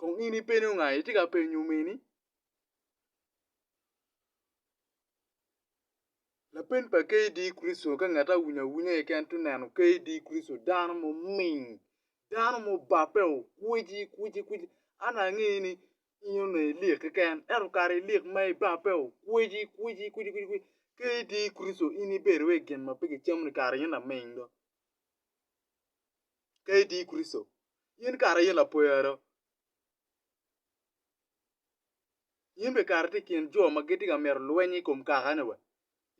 Kong in ipeni nga itye ka penyo omeni? Lapen pa KD Kristo ka ngat awunya awunya keken to neno KD Kristo dano ma oming dano ma obape o kwici kwici kwici an ange ni in onongo ilik keken ento kare ilik ma ibape o kwici kwici kwici kwici KD Kristo in ibedo wa i gin ma pe kicamo ni kare eni laming do. ka idi i Kricito, in kara in lapwera. In bene kara itye i kin jo ma gitye ka mito lweny i kom kakane wa.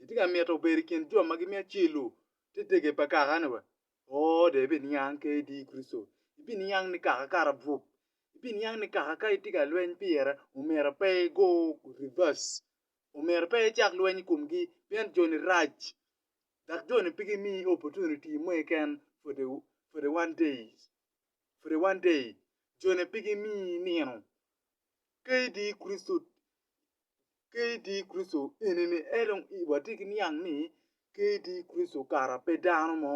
Itye ka mito bedo i kin jo ma gimiyo acel-lu te tege pa kakane wa. Oo, dong ibiniang ka idi i Kricito. Ibiniang ni kaka kara bwok. Ibiniang ni kaka ka itye ka lweny pire, omyero pe igo rivas. Omyero pe icak lweny i komgi, pien joni rac. dok joni pe gimiyi opportunity mo keken for the for the one days for the one day joni pe gimiyi nino ka idi Kricito ka idi Kricito enini en dong watye ki niang ni ka idi Kricito kara pe dano mo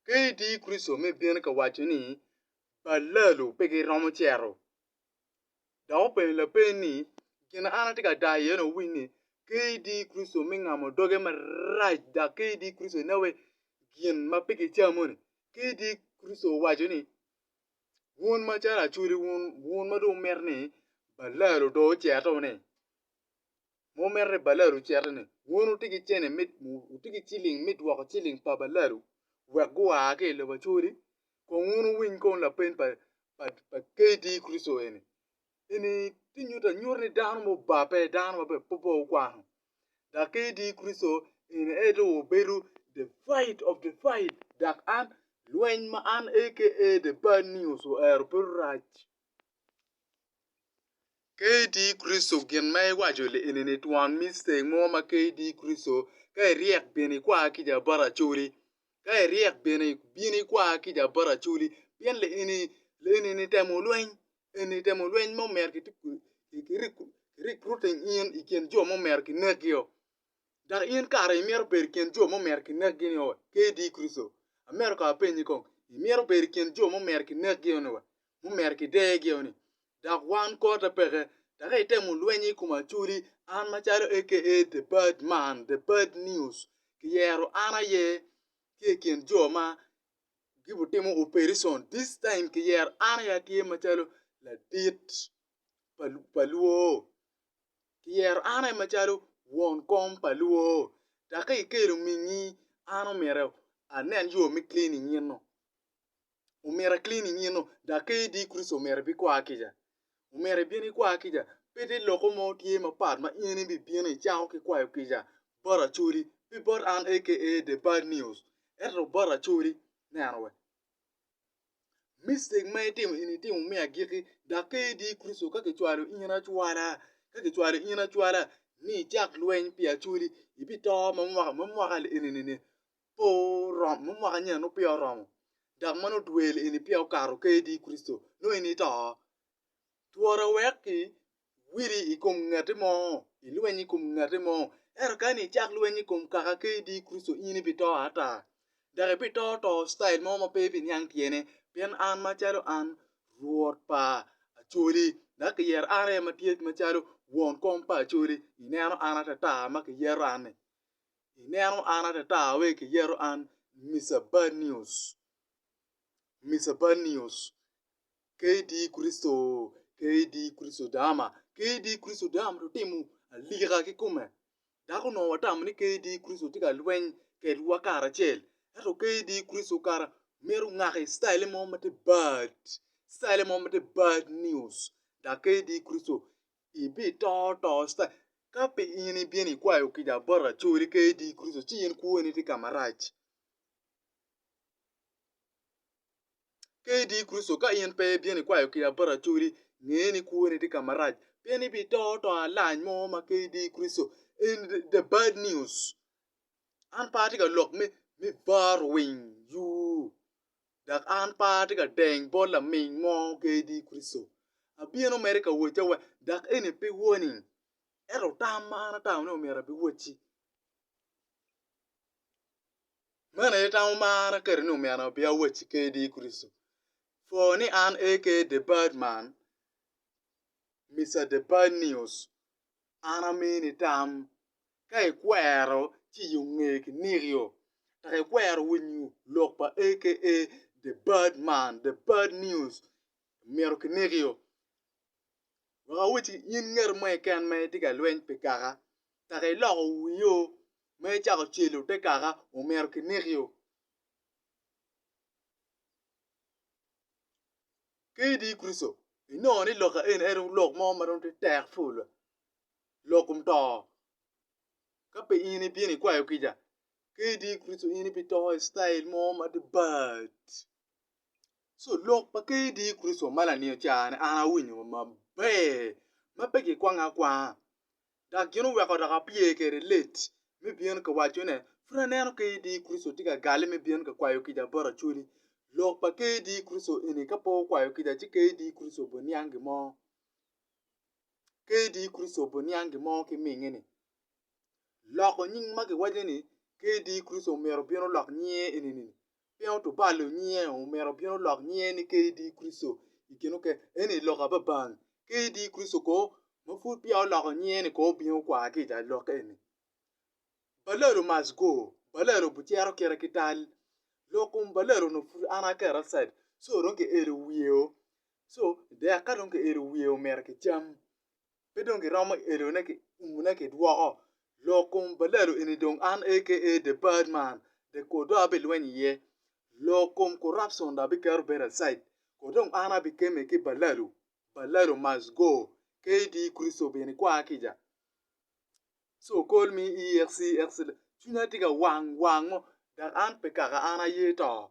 ka idi Kricito me bino ka waco ni balalu pe giromo cito dok openyo lapenyi ni, Gin ma an atye ka dayo iye-ni owiny ni, Kadi Kricito me ngamo doge marac dok kadi Kricito ineno wai gin ma pe kicamo-ni, kadi Kricito owaco ni, Wun macalo acwali wun ma dong wumito ni balal odo ocito-ni. ma omito ni balalu ociti ni wun wutye ki cene me wutye ki ciling me dwoko ciling pa balalu wek gua ki i lobo Acholi kong wun wuwiny kong lapeny pa pa KD Kristo eni, eni tye nyuto anyuta ni dano ma obabbe dano ma pe okwano dok KD Kristo eni en aye dong obedo the fight of the fight dok an lweny ma an aka the bad news ohero bedo rac. KD Kricito gin ma iwaco li enini twon me ceng mo ma KD Kricito, ka iryek bin ikwa kica bot Acholi, ka iryek bin ibin ikwa kica bot Acholi, pien li eni li enini temo lweny, enini temo lweny ma omyero ki recruiting in ikin jo ma omyero kinekio. Dok in kara imito bedo i kin jo ma omyero kinekgi-ni wa kadi i Kricito? Amito kong apenyi kong, imito bedo i kin jo ma omyero kinekgi-ni wa, ma omyero kidegi-ni? Dok wan kota peke, dok itemo lwenyo i kom acoli, an macalo aka The Bad Man, The Bad News, kiyero an aye tye i kin jo ma gibitimo opereson, this time kiyero an aye atye macalo ladit pa lwor. ki yero an aye macalo won kom pa lwor dok ka ikelo mingi an omyero anen yo me clean inyino omyero a clean inyino dok ka idi Kricito omyero ibikwa kica omyero ibin ikwa kica pe te loko mo tye mapat ma in ibibino icako ki kwayo kica bot Acholi pe bot an aka the bad news ento bot Acholi neno wa. Mistake ma itimo eni itimo me agikki, dok ka idi i Kricito ka kicwalo in acwala, ka kicwalo in acwala ni icak lweny pi acwali, ibito ma mwaka ma mwaka enini pe oromo, ma mwaka nyen nongo peya oromo dok ma nongo dwe eni peya okato ka idi i Kricito nongo in ito. twora wek ki widi i kom ngati mo, i lweny i kom ngati mo. Ento kani icak lweny i kom kaka KD Kricito in ibi to ata. Dok ibi to to style mo ma pe ibi niang tyene. Pien an macalo an Rwot pa Acholi, dok ki yero an aye ma tye macalo won kom pa Acholi. I neno an atata ma ki yero an-ni. I neno an atata we ki yero an Mister Bad News, Mister Bad News. KD Kricito, KD Kricito otama, KD Kricito otam to timo alika kikome. Dok onongo watamo ni KD Kricito tye ka lweny kedwa karacel. Ento KD Kricito kara mito ngaki citayele mo ma tye bad, citayele mo ma tye bad news. Dok KD Kricito ibito to citayel, ka pe in ibino ikwayo kica bot racoli KD Kricito ci in kwoni tye ka marac. Ka idi i Kricito, ka in pe ibino ikwayo ki abaracodi, nge ni kwoni tye ka marac, pien ibito to alany mo ma ka idi i Kricito. En the bad news. An pe atye ka lok me me bar winy yoo, dok an pe atye ka deny bot laming mo ka idi i Kricito. Abino mere ka wacci awac, dok eni pe warning, ento tam ma an atamo ni omyero abiwacci. Meno aye tam marra kadi ni omyero abin awacci kadi i Kricito. For ni an aka The Bad Man, Mister The Bad News, an amini tam ka ikwero ciyo nge kiniko-io, dok ikwero winyo lok pa aka The Bad Man, The Bad News, myero kiniki-o. wek awacci in ngat mo keken ma itye ka lweny pi kaka, kaka iloko wio ma icako celo te kaka omyero kinekio. Ka idi Kricito, inongo ni lok eni en aye lok mo ma dong tye tek pol, lok kom to. Ka pe in ibino ikwayo kica, ka idi Kricito in ibito i citail mo ma tye bad. So lok pa Ker Yecu Kricito ma laniyo careni an awinyo maber ma pe kikwange akwanga dok gin oweko dok apye kwede let me bino ka waco ne pud aneno Ker Yecu Kricito tye ka galle me bino ka kwayo kica bot Acholi. Lok pa Ker Yecu Kricito eni ka pe okwayo kica ci Ker Yecu Kricito obiniang gin mo Ker Yecu Kricito obiniang gin mo ki minge ni loko nying ma kiwaco ni Ker Yecu Kricito myero obin olok nyinge eni ni pien otubalo nyinge omito bino lok nyinge ni KD Christo i kin oker eni lok ababang KD Christo ko ma pud peya oloko nyinge ni ko obino kwar ki i lok eni balalo must go balalo bucero kite ki tal lok kom balalo onongo pud an aketo outside so dong kielo wiye o so dek ka dong kielo wiye omito kicam pe dong giromo elone ki umone ki dwoko lok kom balalo eni dong an aka the bad man the kodo abilweny iye lok kom corruption dong abiketo bedo aside kodo dong an abikeme ki balalo balalo must go KD Christo bene kwar kica so call me EXCX cwinya tye ka wang wang mo dok an pe kaka an aye to